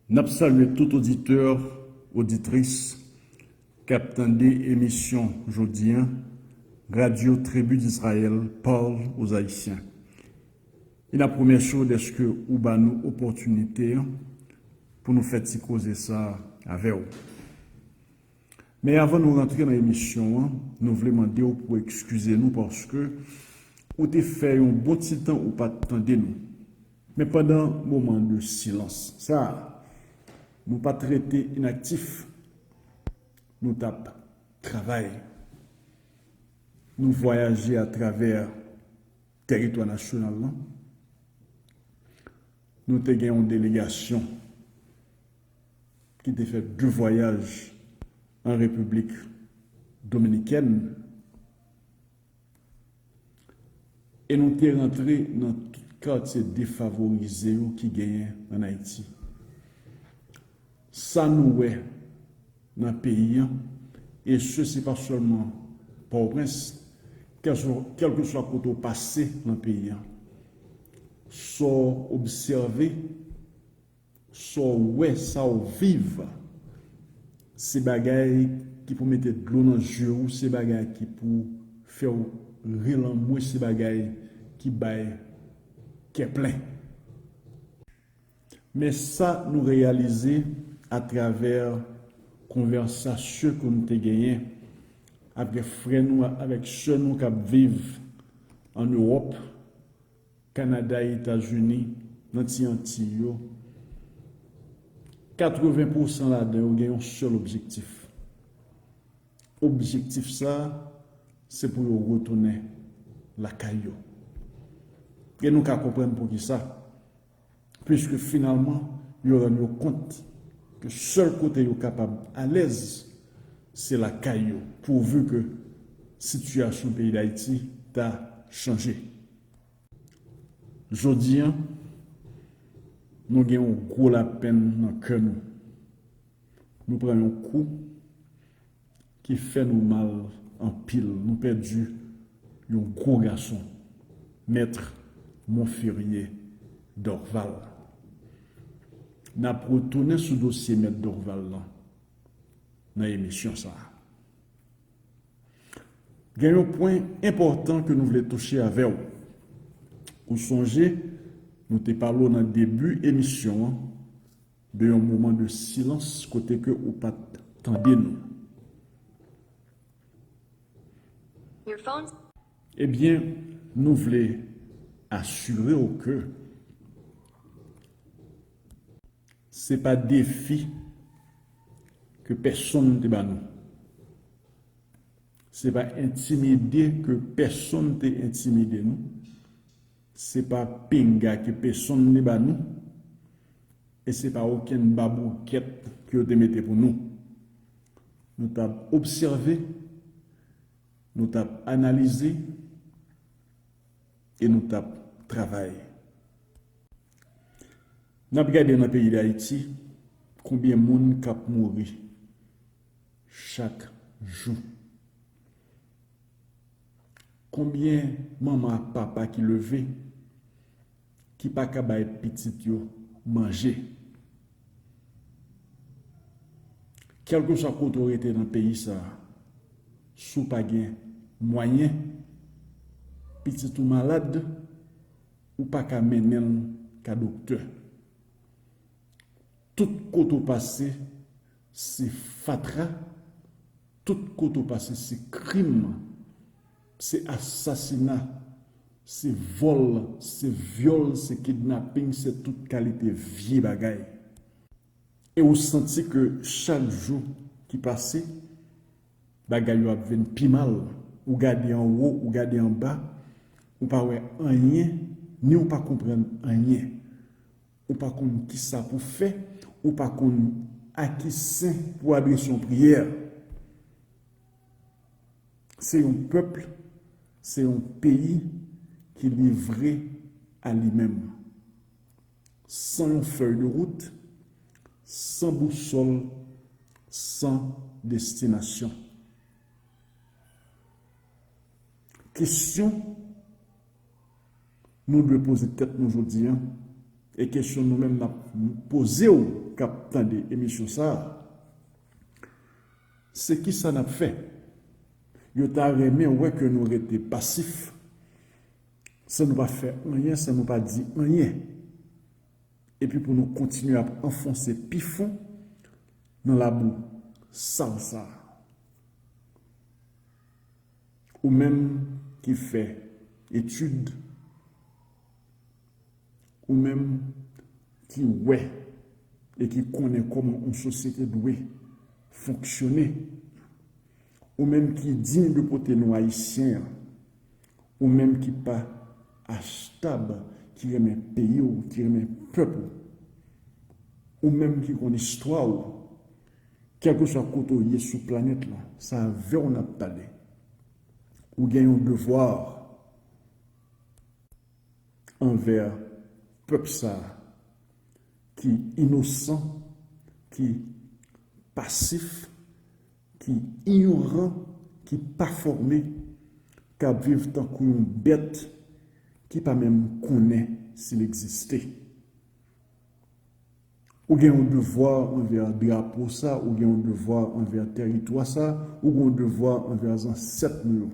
N ap salye tout oditè, oditris k ap tande emisyon jodi an Radyo Tribi Dizrayèl Parle aux Haïtiens e n ap remèsye w dèske ou ba nou opòtinite an pou nou fè ti koze sa a avè w. Men avan nou rantre nan emisyon an, nou vle mande w pou ekskize nou paske ou te fè yon bon ti tan ou pa t tande nou. Men pandan moman de silans sa a, nou pa t rete inaktif, nou t ap travay, nou vwayaje atravè tèritwa nasyonal lan, nou te gen yon delegasyon ki te fè de vwayaj an Repiblik Dominikèn. E nou te rantre nan tout katye defavorize yo ki genyen an Ayiti. Sa nou wè nan peyi an, e se se pa sèlman Pòtoprens, kèlkeswa kote ou pase nan peyi an, sa w obsève, Sa w wè, sa w viv, se bagay ki pou mete dlo nan zye ou, se bagay ki pou fè w ri lanmou, se bagay ki bay kè plen. Men sa nou reyalize atravè konvèsasyon ke nou te genyen avèk frè nou avèk sè nou k ap viv ann Ewòp, Kanada e Etazini, nan ti Antiy yo, 80 pousan ladan yo gen yon sèl objektif. Objektif sa a, se pou yo retounen lakay yo. E nou ka konprann poukisa. puiske finalman yo rann yo kont ke sèl kote yo kapab alèz se lakay yo pouvu ke sitiyasyon peyi Dayiti ta chanje. Jodi an, nou gen yon gwo lapenn nan kè nou. Nou pran yon kou ki fè nou mal anpil nou pèdi yon gwo gason Maître Monferrier Dorval nap retounen sou dosye Maître Dorval lan nan emisyon sa gen yon pwen enpòtan ke nou vle touche avèw ou sonje nou te pale w nan debi emisyon an De yon moman de silans kote ke ou pat tande nou. Ebyen, nou vle asire w ke. Se pa defi ke pèsonn te ba nou. Se pa entimide ke pèsonn te entimide nou. Se pa pinga ke pesonn te ba nou, e se pa okenn baboukèt ke yo te mete pou nou. Nou t ap obsève, nou t ap analize, e nou t ap travay. N ap gade nan peyi Dayiti konbyen moun k ap mouri chak jou. Konbyen manman ak papa ki leve ki pa ka bay pitit yo manje? Kèlkeswa kote w rete nan peyi sa a, si w pa gen mwayen, pitit ou malad, ou pa ka mennen l ka doktè. Tout kote ou pase se fatra, tout kote ou pase se krim, se asasina, se vòl, se vyòl, se kidnaping, se tout kalite vye bagay. E ou santi ke chak jou ki pase, bagay yo ap vin pi mal. Ou gade anwo, ou gade anba, ou pa wè anyen, ni ou pa konprann anyen. Ou pa konn kisa pou fè, ou pa konn a ki sen pou adrese yon priyè. Se yon pèp, se yon peyi ki livre a li menm. San yon fèy de wout, san bousòl, san destinasyon. Kesyon. nou dwe poze tèt nou jodi an e kesyon nou menm nap poze w kap tande emisyon sa se kisa nap fè yo ta renmen wè ke nou rete pasif san nou pa fè anyen san nou pa di anyen epi pou nou kontinye ap anfonse pi fon nan labou sal sa. Ou menm ki fè etid, ou menm ki wè e ki konnen kòman yon sosyete dwe fonksyone, ou menm ki diy de pote non Ayisyen an, ou menm ki pa HTAB, ki renmen peyi w, ki renmen pèp ou, ou menm ki konn istwa w. Kèlkeswa kote w ye sou planèt la, se avè w n ap pale. Ou gen yon devwa anvè pèp sa a ki inosan, ki pasif, ki inyoran, ki pa fòme, k ap viv tankou yon bèt ki pa menm konnen si l egziste. Ou gen yon devwa anvè drapo sa, ou gen yon devwa anvè tèritwa sa, ou gen yon devwa anvè zansèt nou yo.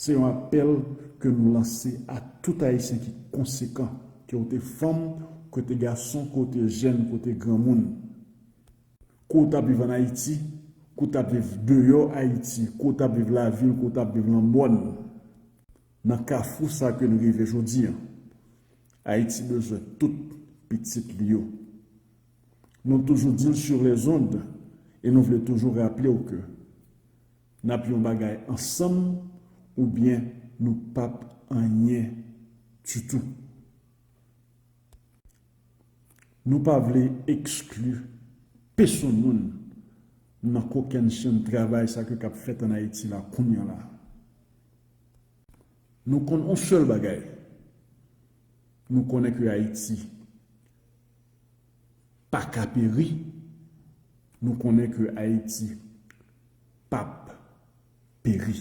Se yon apèl ke nou lanse a tout Ayisyen ki konsekan, ke ou te fanm, ke ou te gason, ke ou te jèn, ke ou te granmoun, ke ou t ap viv an Ayiti, ke ou t ap viv deyò Ayiti, ke ou t ap viv lavil, ke ou t ap viv lan mòn, nan kafou sa ke nou rive jodi an. Ayiti bezwen tout pitit li yo. Nou toujou di l sur les ondes e nou vle toujou raple w ke n ap yon bagay ansanm oubyen nou p ap anyen ditou. Nou pa vle ekskli pesonn moun nan kokennchenn travay sa ke k ap fèt an Ayiti la kounya la. Nou konn on sèl bagay, nou konnen ke Ayiti pa ka peri, nou konnen ke Ayiti pap peri.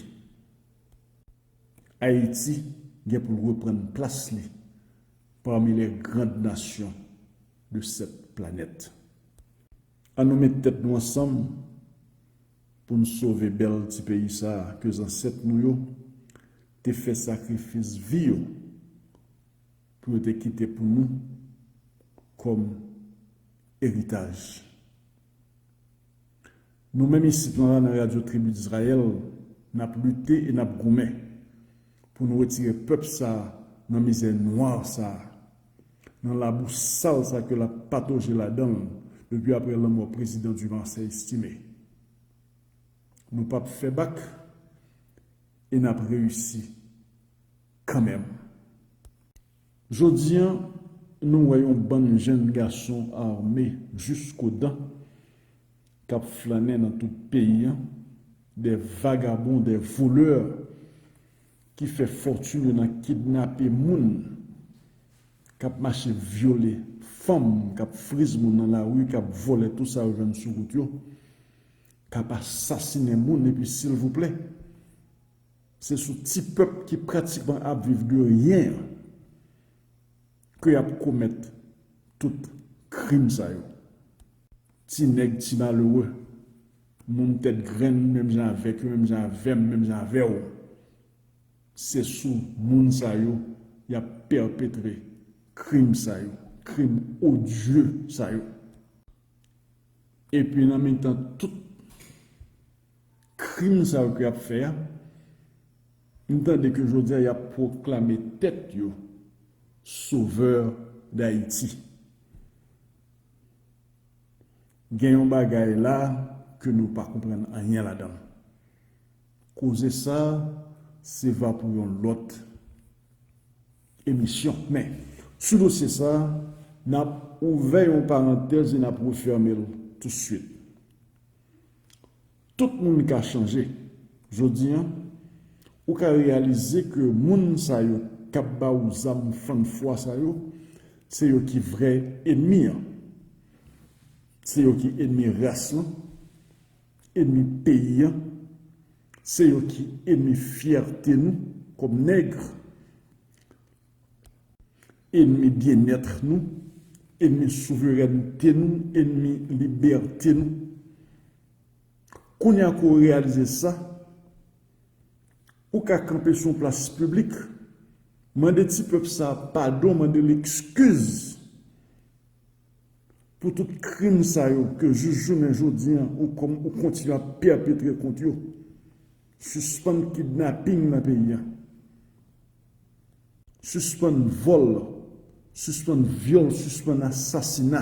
Ayiti gen pou l reprann plas li pami lè grand nasyon de sèt planèt. An nou met tèt nou ansanm Pou n sove bèl ti peyi sa a ke zansèt nou yo te fè sakrifis vi yo pou yo te kite pou nou kòm eritaj. Nou menm isit lan nan Radyo Tribi Dizrayèl, n ap lite e n ap goumen. pou nou retire pèp sa nan mizè nwa sa, nan labou sal sa ke lap patoje ladan l depi aprè lanmò prezidan Dumarsais Estimé. Nou pap fè bak e nap reyisi kanmenm. Jodi an, nou wè yon bann jenn gason ame jisko dan k ap flannen nan tout peyi an, de vagabon, de volè ki fè fòtin yo nan kidnape moun, k ap mache vyole fanm, k ap friz moun nan lari, k ap vòlè tou sa yo jwenn sou wout yo, k ap asasinen moun epi silvouplè, Se sou ti pèp ki pratikman ap viv de ryen an ke y ap komèt tout krim sa yo. Ti nèg, ti malere, moun tèt grenn menm jan avèk yo, menm jan avè m, menm jan avè w, se sou moun sa yo y ap pèpetre krim sa yo, krim odye sa yo. Epi nan mitan tout. Krim sa yo ke yap fè a, nou tande ke jodi a yap pwoklame tèt yo Sauveur d'Haïti. Gen yon bagay la ke nou pa konprann anyen ladan l. Koze sa se va pou yon lòt emisyon. Men, sou dosye sa, nap ouvè yon parantèz e nap refèmen l tout swit. Tout moun ka chanje. Jodi an, ou ka reyalize ke moun sa yo k ap ba ou zam fann fwa sa yo, se yo ki vrè enmi an. Se yo ki enmi ras lan, enmi peyi an, se yo ki enmi fyète nou kòm Nègre. Enmi byenètre nou, enmi souverènte nou, enmi libète nou. Kounya ke w reyalize sa, ou ka kanpe sou yon plas piblik, mande ti pèp sa a padon, mande l ekskiz pou tout krim sa yo ke jis jounen jodi an ou kontinye ap pèpetre kont yo. Sispann kidnaping nan peyi a. Sispann vòl, sispann vyòl, sispann asasina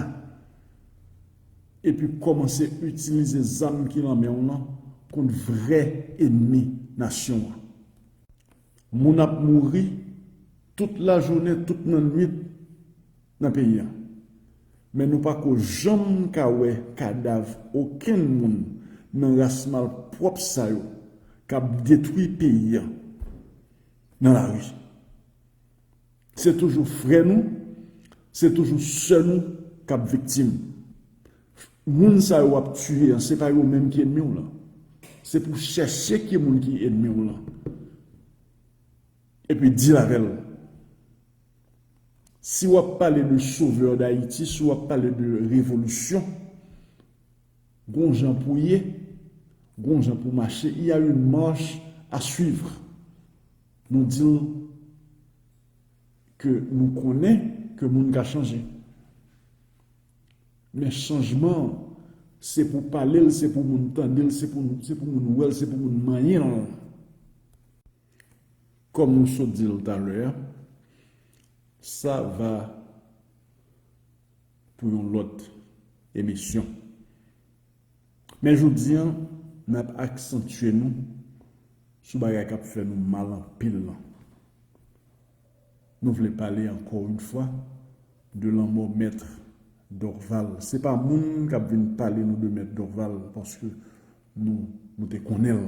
epi kòmanse itilize zam ki lan men w lan kont vrè enmi nasyon an. Moun ap mouri tout lajounen, tout nannuit nan peyi a, men nou pa ko janm ka wè kadav okenn moun nan ras malpwòp sa yo k ap detwi peyi a. nan lari. Se toujou frè nou, se toujou sè nou k ap viktim. Moun sa yo w ap tiye an, se pa yo menm ki enmi w lan. Se pou chèche ki moun ki enmi w lan. Epi dil avè l. Si w ap pale de sovè dayiti, si w ap pale de revolisyon, Gon jan pou ye, gon jan pou mache, il y a une marche à suivre. Nou di l ke nou konnen ke moun ka chanje. Men chanjman an, se pou pale l, se pou moun tande l, se pou moun wè l, se pou moun manyen l. Kòm nou sot di l talè a, sa va pou yon lòt emisyon. Men jodi an, n ap aksantye nou sou bagay k ap fè nou mal anpil lan. Nou vle pale ankò yon fwa de lanmò Mèt Dorval. Se pa moun k ap vin pale nou de Mèt Dorval paske nou te konnen l.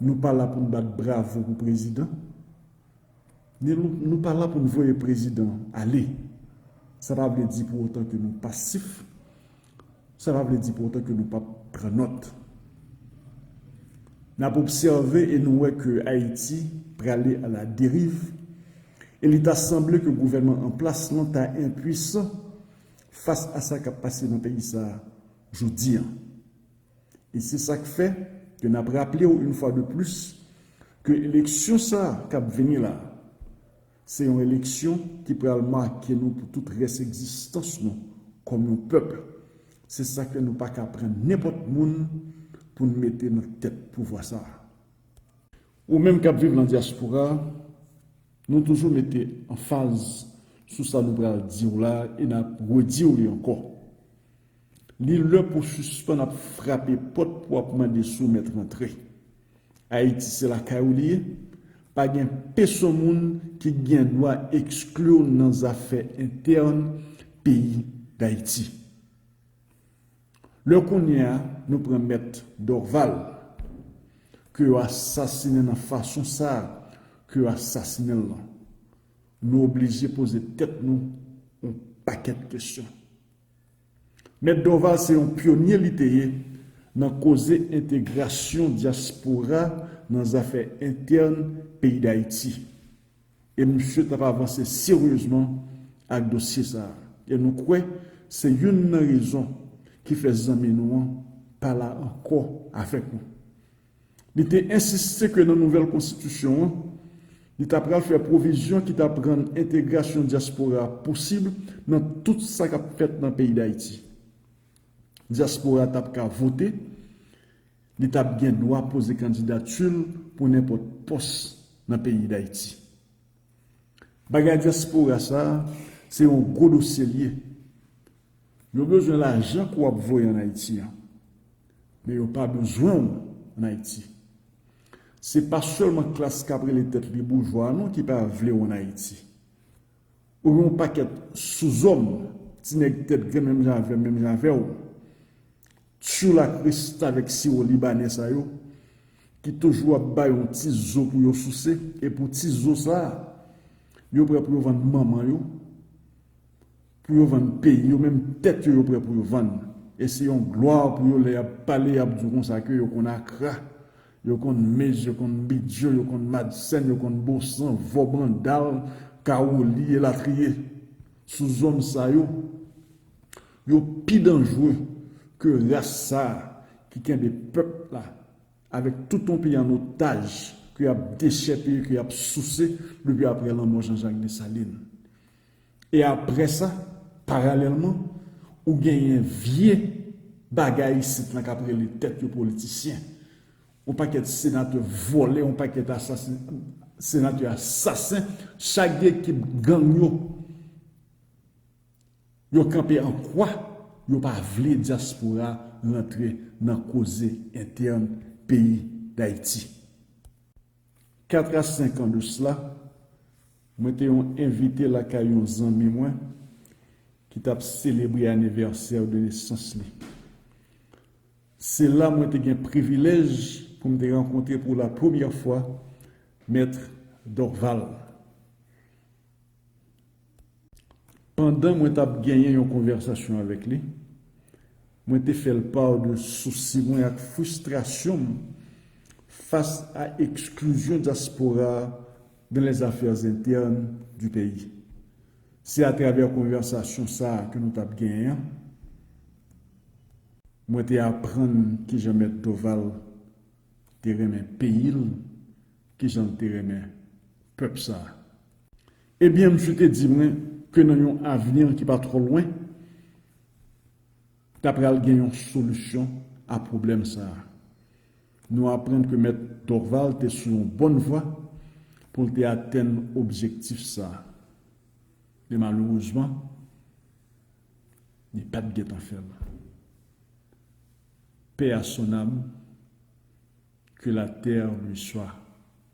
Nou pa la pou n bat bravo pou prezidan, ni nou pa la pou n voye prezidan ale. Sa pa vle di pou otan ke nou pasif, sa pa vle di pou otan ke nou pap pran nòt. N ap obsève e nou wè ke Ayiti prale a la deriv e li ta sanble ke gouvènman an plas lan ta enpuisan fas a sa k ap pase nan peyi sa a jodi a. E se sa k fè ke n ap raple w une fois de plus ke eleksyon sa k ap vini la se yon eleksyon ki pral make nou pou tout rès egzistans nou kòm yon pèp. Se sa k fè nou pa ka pran nenpòt moun pou n mete nan tèt pouvwa sa. Ou menm k ap viv lan dyaspora, nou toujou mete anfaz sou sa nou pral di w la e n ap redi w li ankò. Li lè pou sispann ap frape pòt pou ap mande soumèt rantre. Ayiti se lakay ou li ye, pa gen peson moun ki gen dwa ekskli w nan zafè entèn peyi Dayiti. Lè kounye a nou pran mèt Dorval ke yo asasinen nan fason sa ke yo asasinen l lan, nou oblije poze tèt nou on pakèt kesyon. Mèt Dorval se yon pyonye li te ye nan koze entegrasyon dyaspora nan zafè entèn peyi Dayiti e misye t ap avanse seryezman ak dosye sa a e nou kwè se youn nan rezon ki fè zanmi nou an pa la ankò avèk nou. Li te ensiste ke nan nouvèl konstitisyon an, li ta pral fè pwovizyon ki tap rann entegrasyon dyaspora a posib nan tout sa kap fèt nan peyi Dayiti. Dyaspora a tap ka vote, li tap gen dwa poze kandidati l pou nenpòt pòs nan peyi Dayiti. Bagay diaspora sa se yon gwo dosyel ye. Yo bezwen lajan ke wap voye an Ayiti an. Men yo pa bezwen w an Ayiti. Se pa selman klas kap rele tet li boujwa non ki pa vle w an Ayiti. Ou gen yon paket souzom, ti neg tet grenn menm jan avem, menm jan avew. Tchoul ak restavèk siwo libanè sa yo ki toujou ap bay yon ti zo pou yo souse e pou ti zo sa a yo prè pou yo vann manman yo pou yo vann peyi yo menm tèt yo yo prè pou yo vann e se yon glwa pou yo lè y ap pale y ap di w konsa ke yo konn akra yo konn mez yo konn bidyo yo konn madsen yo konn bosan vò brandal kawoli elatriye sou zòn sa yo Yo pi danjre ke ras sa a ki kenbe pèp la avèk tout yon peyi an otaj ke y ap dechèpiye, ke y ap souse depi aprè lanmò Janjak Desalin. E aprè sa, paralèlman, ou genyen vye bagay isit lan k ap rele tèt yo politisyen. Yon pakèt senatè vòlè, yon pakèt asasen, senatè asasen, chak gen ekip gang yo. Yo kanpe an kwa, yo pa vle dyaspora rantre nan koze entèn peyi Dayiti. Kat a senk an de sla, mwen te yon envite lakay yon zanmi mwen ki t ap selebre anivèsè de nesans li. Se la mwen te gen privilèj pou m te rankontre pou la premyè fwa Mèt Dorval. Pandan mwen t ap genyen yon konvèsasyon avèk li, mwen te fè l pa de sousi mwen ak fristrasyon m fas a eksklizyon dyaspora a dans les affaires internes du pays. Se atravè konvèsasyon sa a ke nou t ap genyen an mwen te aprann kijan Mèt Doval te renmen peyi l, kijan l te renmen pèp sa a. Ebyen misye te di mwen ke nan yon avni ki pa twò lwen, ta pral gen yon solisyon a pwoblèm sa a. Nou aprann ke Mèt Dorval te sou yon bòn vwa pou l te atenn objektif sa a. Men malerezman, li pa t gen tan fè l. Paix à son âme. Que la terre lui soit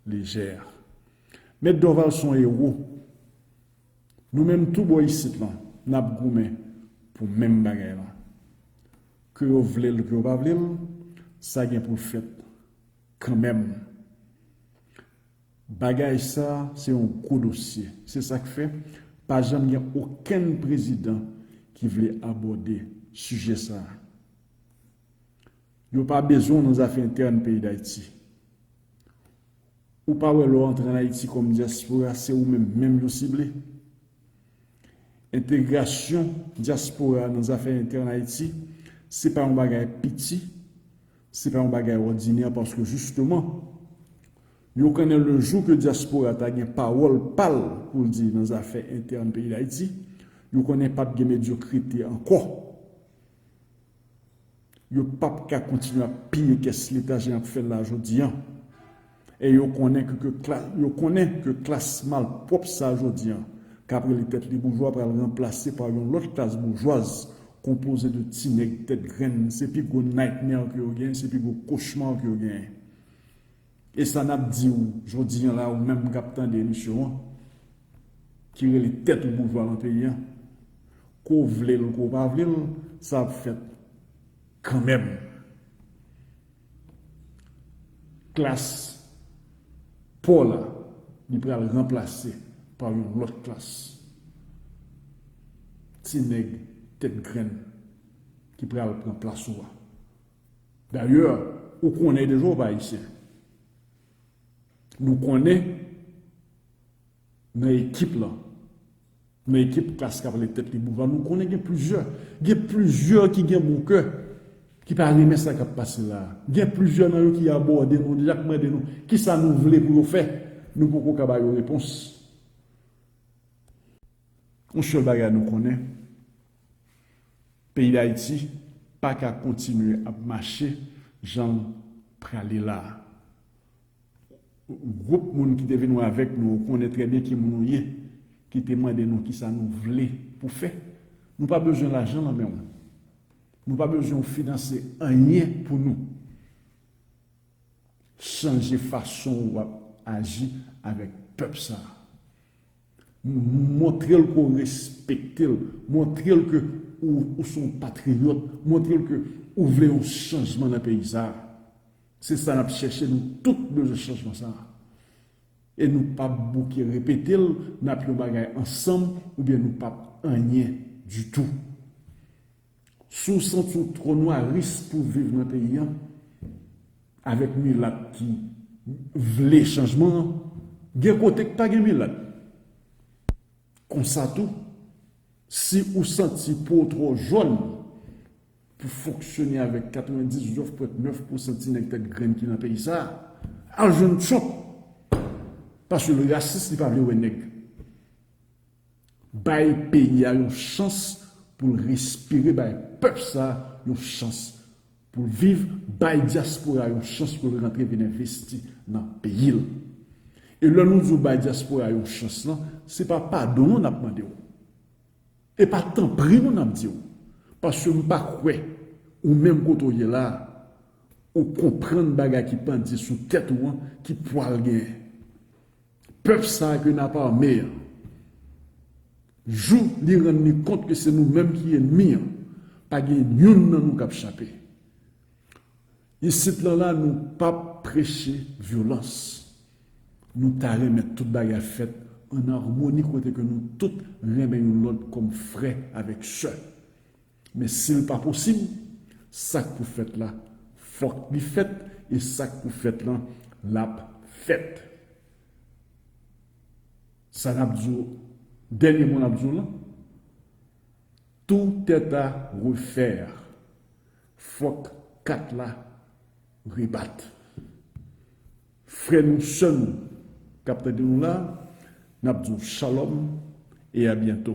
légère. Mèt Dorval son ewo. Nou menm tou bò isit lan nap goumen pou menm bagay lan. Ke yo vle l ke yo pa vle l sa gen pou l fèt kanmenm. Bagay sa se yon gwo dosye. Se sak fè pa janm gen okenn prezidan ki vle abòde sijè sa. Yo pa bezwen w nan zafè entèn peyi Dayiti. Ou pa wè lè w antre an Ayiti kòm dyaspora se ou menm menm yo sible? Entegrasyon dyaspora nan zafè entèn Ayiti se pa yon bagay piti, se pa yon bagay òdinè paske jisteman yo konnen le jou ke dyaspora ta gen pawòl pa l pou l di nan zafè entèn peyi Dayiti, yo konnen pap gen medyokrite ankò. Yo p ap ka kontinye ap piye kès Leta jan y ap fè l la a jodi an. E yo konnen yo konnen ke klas malpwòp sa a jodi an, k ap rele tèt li boujwa pral ranplase pa yon lòt klas boujwaz konpoze de ti nèg tèt grenn. Se pi gwo nightmare ke yo genyen, se pi gwo kochma ke yo genyen. E sa nap diw jodi an la ou menm kap tande emisyon an ki rele tèt ou boujwa nan peyi an kou w vle l kou w pa vle l sa ap fèt kanmenm klas paw la li pral ranplase pa yon lòt klas ti nèg tèt grenn ki pral pran plas ou a Dayè, ou konnen deja ou pa Ayisyen. Nou konnen nan ekip lan, nan ekip klas k ap rele tèt li boujwa, nou konnen gen plizyè. Gen plizyè ki gen bon kè, ki pa renmen sa k ap pase la a. Gen plizyè nan yo ki abòde nou deja, k mande nou ki sa nou vle pou yo fè. Nou poko ka ba yo repons. Yon sèl bagay nou konnen. Peyi Dayiti pa ka kontinye ap mache jan l prale la a. Gwoup moun ki te vin wè avèk nou, ou konnen trè byen ki moun ou ye, ki te mande nou kisa nou vle pou fè. Nou pa bezwen lajan nan men w. Nou pa bezwen w finanse anyen pou nou chanje fason w ap aji avèk pèp sa a. Montre l ke w respekte l. Montre l ke ou se yon patriyòt. Montre l ke ou vle yon chanjman nan peyi sa a. Se sa n ap chèche. Nou tout bezwen chanjman sa a. E nou pa p bouke repete l, n ap yon bagay ansanm oubyen nou pa p anyen ditou. Si w santi w twò nwaris pou w viv nan peyi an avèk milat ki vle chanjman, gen kote k pa gen milat. Konsa tou, si ou santi po w twò jòn pou w fonksyone avèk 99 pwent 9 pousan ti nèg tèt grenn ki nan peyi sa, al jwenn Trump paske l rasis li pa vle wè nèg. Bay peyi a yon chans pou l respire bay pèp sa yon chans pou l viv bay dyaspora yon chans pou l rantre vin envesti nan peyi l e lè nou di w bay dyaspora yon chans lan se pa padon non n ap mande w e pa tanpri non n ap di w paske m pa kwè ou menm kote w ye la ou konprann bagay ki pandye sou tèt ou an ki pwal gen. Pèp sa ke nap arme an. Jou li rann li kont ke se nou menm ki enmi an, pa gen youn nan nou kap chape. Isit lan la nou pap preche vyolans. Nou ta renmen tout bagay fèt an armoni kote ke nou tout renmen youn lòt kòm frè avèk sè. Men si l pa posib, sa k pou fèt la fòk li fèt e sa k pou fèt lan l ap fèt. Sa n ap di w, dènye mo n ap di w lan, tout est à refaire, fòk kat la rebat. Frè nou, sè nou k ap tande nou la, n ap di w shalom e a byento.